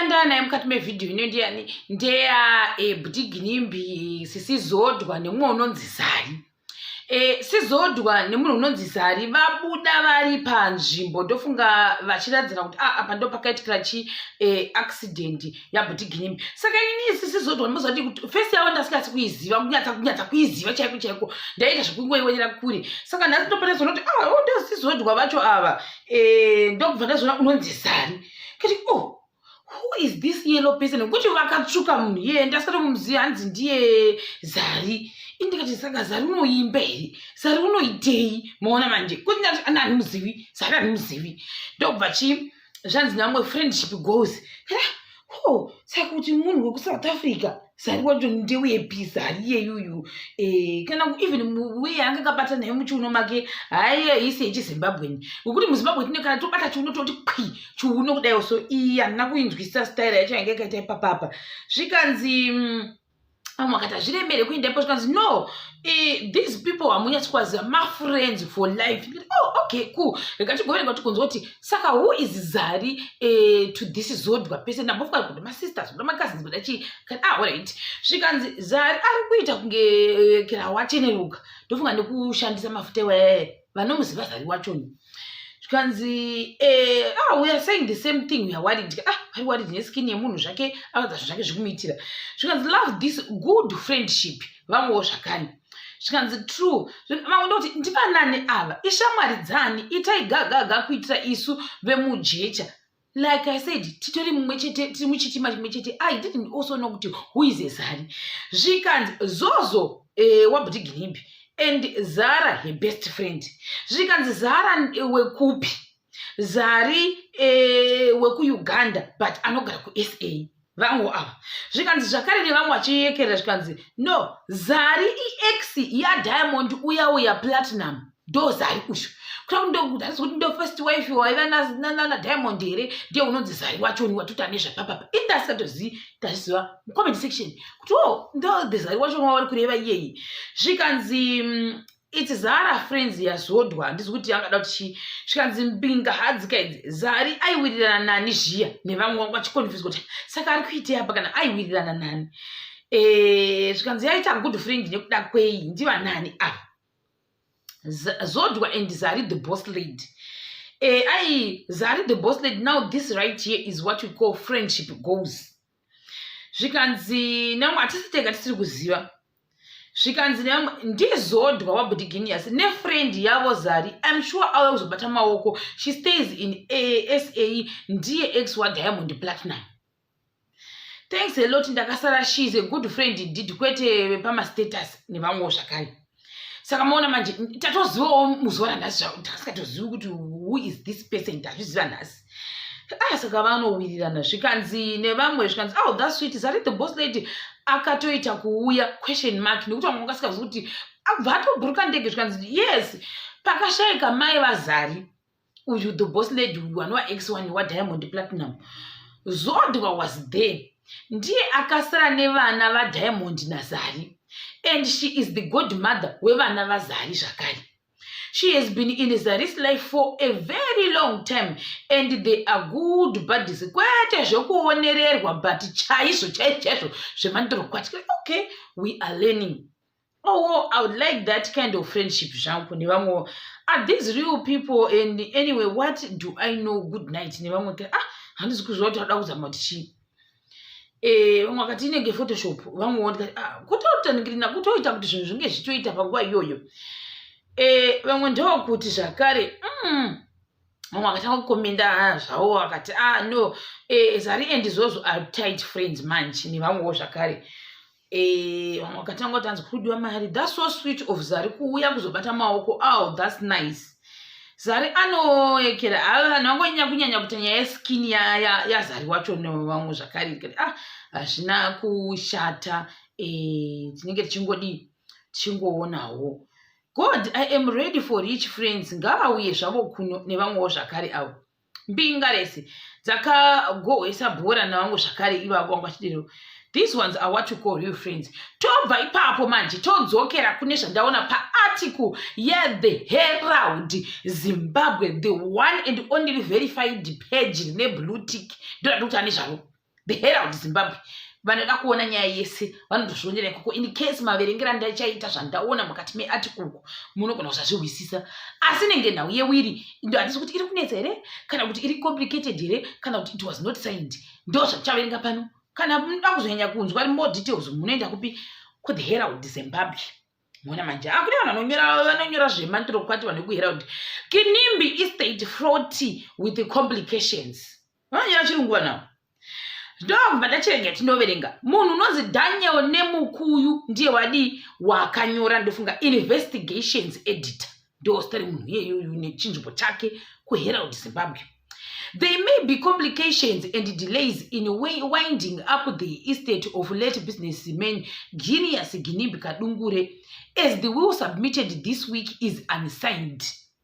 ndandava naye mukati mevhidhiyo ino ndiyani ndeya eh, butiginimbi sisi zodwa nemumwe unonzi zari eh, sizodwa nemunhu unonzi zari vabuda vari panzvimbo ndofunga vachiradzana kuti ah, apa ndo pakaitikira chi eh, accident yabutiginimbi saka inini isi sizodwa ndimozvati kuti fesi yavo ndasingasi kuiziva kunyatsa kunyatsa kuiziva chaiko chaiko ndaiita zvekungoionera kure saka nhasi ndopota zona kuti ah, oh, ndosizodwa vacho ava ndokubva ndazona unonzi zari kuti o oh, who is this yellow person nokuti vakatsvuka munhu iyeye ndasati kumuziva hanzi ndiye zari ini ndikati saka zari unoimba here zari unoitei maona manje kuti ndati ani handimuzivi zari handimuzivi ndokubva chi zvanzi namwe friendship goes o oh, saka kuti munhu wekusouth africa sari wacho ndeuye pisa hariyeyuyu eh, kana even uye ange kabata naye muchiuno make haiye isi yechizimbabweni wekuti muzimbabwe tine kana tobata chiuno toti pwi chiuno kudaiwo so iyi handina kuinzwisisa staira yacho yange yakaita ipapapa zvikanzi mm, vamwe vakati hazviremere kuinda ipo zvikanzi no eh, these people hamunyatsikwaziva mafriends for life oh, okay cool rikatigovereka kuti kunzwa kuti saka who is zari eh, to this zodwa pese ndambofunga kuti masister zvoda macousins kuda chii kani ah alright zvikanzi zari ari kuita kunge eh, kira wacheneruka ndofunga nekushandisa mafuta iwayaye vanomuziva zari wachoni zvikanzi eh, ah, weare saying the same thing weare worried ah, vari worried neskin yemunhu zvake akaza zvinhu zvake zviri kumuitira zvikanzi love this good friendship vamwewo zvakani zvikanzi true vamwe ndokuti ndivanani ava ishamwari dzani itai gagaga kuitira isu vemujecha like i said titori mumwe chete tiri muchitima chimwe chete i didn't also know kuti who is ezari zvikanzi zozo eh, wabudhiginimbi and zara her best friend zvikanzi zara eh, wekupi zari e, wekuuganda but anogara kusa vamwe ava zvikanzi zvakare nevamwe vachiyekerera zvikanzi no zari iex yadiamond uya uya platinum ndo zari uyu kutakuti kuti ndo first wife waiva nana diamond here ndiye unonzi zari wachoni watuta nezvapapapa ini ndasingatozivi ndaziva mucomment section kuti o oh, ndo the zari wachoni wavari kureva iyeyi zvikanzi mm, its zara friends yazodwa handizi kuti yangada kuti chii zvikanzi mbinga hadzika idzi zari aiwirirana nani zviya nevamwe vangu vachikonfuswa kuti saka ari kuitei apa kana aiwirirana nani eh, zvikanzi yaita good friend nekuda kwei ndivanani ava zodwa and zari the boss lady eh, ai zari the boss lady now this right here is what we call friendship goes zvikanzi namwe hatisi tega tisiri kuziva zvikanzi namwe ndizodwa wabudhiginius nefriend yavo zari im sure auya kuzobata maoko she stays in asa ndiye ex wadiamond platinum thanks a lot ndakasara she is a good friend did kwete vepamastatus nevamwewo zvakare saka maona manje tatozivawo muzuva ranhasi takasingatozivi kuti who is this person tazviziva nhasi ah saka vanowirirana zvikanzi nevamwe zvikanzi oh that sweet zari the boss lady akatoita kuuya question mark nekuti vamwe vakasingazivi kuti abva atoburuka ndege zvikanzi yes pakashaika mai vazari uyu the boss lady uyu anova x one wadiamond platinum zodwa was there ndiye akasara nevana vadiamond nazari and she is the god mother wevana vazari zvakare she has been in zaris life for a very long time and they are good buddies kwete zvekuonererwa but chaizvo chaizvo chaizvo zvemandorokwati okay we are learning Oh, I would like that kind of friendship zvangu nevamwe are these real people and anyway what do i know good night nevamwe kuti ah handizi kuziva kuti ada kuzama kuti chii eh, vamwe vakati inenge photoshop vamwe vondikati ah, kutotaningirina kutoita kuti zvinhu zvinge zvichitoita panguva iyoyo eh, vamwe ndevakuti zvakare mm, mumwe akatanga kukomenda ah, zvawo akati a ah, no eh, zari and izvozvo are tight friends manje nevamwewo zvakare eh, vamwe vakatanga kuti anzi kudiwa mari thats so sweet of zari kuuya kuzobata maoko aw oh, thats nice zari anoekera vanhu vangonyanya kunyanya kuti nyaya yeskin yazari wacho nevamwe zvakare kati a ah, hazvina kushata tinenge tichingodii tichingowonawo God I am ready for rich friends ngavauye zvavo kuno nevamwewo zvakare avo mbinga rese dzakagohwesa bhora navamwe zvakare ivavo vanga vachidero these ones are what you call real friends tobva ipapo manje todzokera kune zvandaona paarticle yethe herald zimbabwe the one and only verified page rine blue tick ndoda ndokuti ane zvavo the herald zimbabwe vanoda kuona nyaya yese vanotozvionera ikoko in case maverengera ndachaita zvandaona mukati meatikuku munogona kuzvazvihwisisa asi inenge nhau yewiri ndo handisi kuti iri kunetsa here kana kuti iri complicated here kana kuti it was not signed ndo zvandichaverenga pano kana munoda kuzonyanya kunzwa more details munoenda kupi kuThe Herald Zimbabwe mona manje hakune ah, vanhu vanonyora zvemantiro kwati vanhu vekuherald kinimbi estate froti with complications vanonyora chirungu vanavo ndokubva ndachirega tinoverenga munhu unonzi daniel nemukuyu ndiye wadii wakanyora ndofunga investigations editor ndozita remunhu iyeyoyu nechinzvimbo chake kuherald zimbabwe they may be complications and delays in winding up the estate of late business man genius ginimbi kadungure as the will submitted this week is unsigned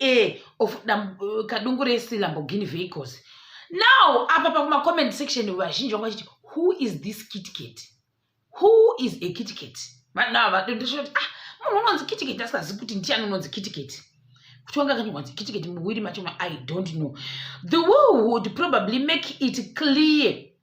e of dam, uh, kadungu resi lamborghini vehicles now apa pakumacomment section vazhinji vanga vachiti who is this kitcat who is a kitcat vanhu ava vadondosvoti ah munhu unonzi kitcat asingazivi kuti ndiani unonzi kitcat kuti wanga akanonzi kitcat muwiri macho i don't know the world would probably make it clear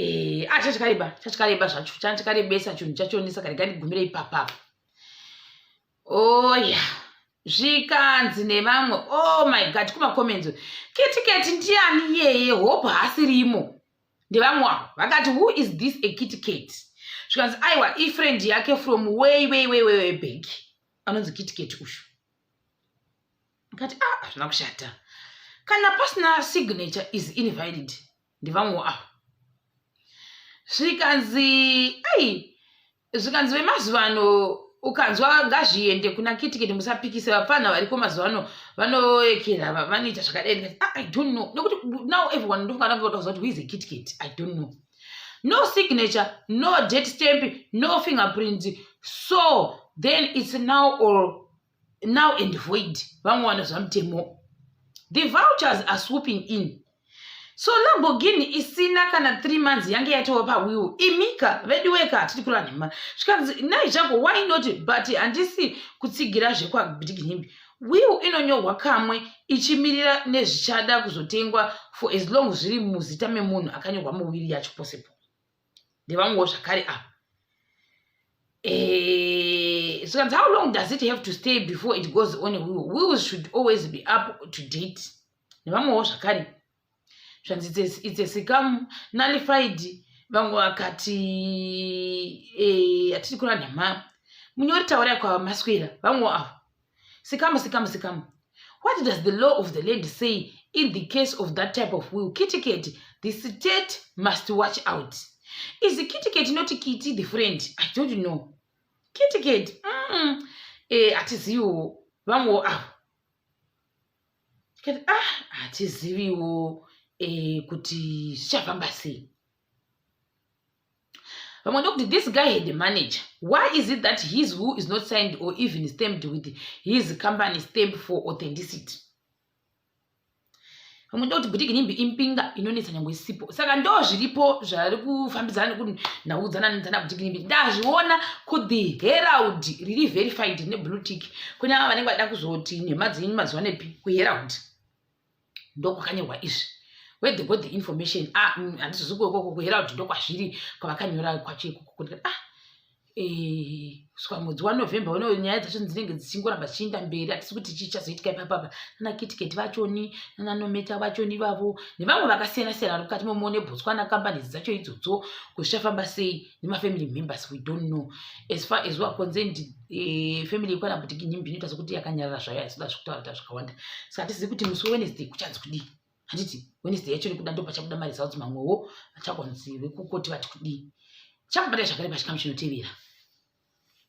Eh, ah, chachikareba chachikareba zvacho chanchikarebesa chinhu chachonisa kare kandigumire ipapapa oya oh, zvikanzi nevamwe oh my god kumakomenzo kitiketi ndiyani iyeye hope haasirimo ndevamwe avo vakati who is this a kitiketi zvikanzi aiwa ifriend yake from way way way way way bank anonzi kitiketi ushu ndikati a ah, hazvina kushata kana pasina signature is invalid ndivamwewo avo zvikanzi ai zvikanzi vemazuva ano ukanzwa ngazviende kuna kitikiti musapikise vapfanha variko mazuva ano vanoekera vanoita zvakadai ndikati ah, i don't know nokuti now everyone ndofungana kutakuza kuti huize kitikiti i don't know no signature no date stamp no fingerprint so then it's now or now and void vamwe wana zvamutemo the vouchers are swooping in so lamborghini isina kana three months yange yatova pawiwo imika veduweka hatidi kureva nhema zvikanzi nai zvangu why not but handisi kutsigira zvekwabdiginhimbi will inonyorwa kamwe ichimirira nezvichada kuzotengwa for as long zviri muzita memunhu akanyorwa muwiri yacho possible ndevamwewo zvakare ava eh, zvikanzi how long does it have to stay before it goes on will wills should always be up to date nevamwewo zvakare zvanzi it's a sikamu nullified vamwe vakati eh, hatiri kura nhama munyori taurai kwamaswera vamwewo ava sikamu sikamu sikamu what does the law of the land say in the case of that type of will kitiketi the state must watch out is kitiketi not kiti the friend i don't know kitiketi mm, eh, hatiziviwo vamwewo avo tikati ah hatiziviwo eh, kuti zvichafamba sei vamwe ndokuti this guy had a manager why is it that his who is not signed or even stamped with his company stamp for authenticity vamwe ndokuti butiki nimbi impinga inonetsa nyange isipo saka ndo zviripo zvari kufambidzana nekuti ndaudzana nedzana butiki nimbi ndazviona could the herald riri verified neblue tick kune ava vanenge vada kuzoti nhema dzenyu mazuva nepi kuherald ndokwakanyorwa izvi where they got the information ah mm, handizozi mm, kuokoko kuhera kuti ndokwazviri kwavakanyora kwacho ikoko kuti ah eh, swa mwedzi wanovember uno nyaya dzacho dzinenge dzichingoramba dzichiinda mberi hatisi kuti chii chazoitika ipapapa nanakitiketi vachoni nananometa vachoni ivavo nevamwe vakasiyana siyana vari mukati momo nebotswana kambani dzacho idzodzo kuti zvichafamba sei nemafamily members we don't know as far as weare concerned eh, family yekwana butiki nyimbi inoita sokuti yakanyarara zvayo haisoda zvekutaura ta zvakawanda saka hatizivi kuti musi wewednesday kuchanzi kudii handiti wednesday yacho nekuda ndo pachabuda maresults mamwewo achakonzi vekukoti vati kudii chakubata zvakare pachikamu chinotevera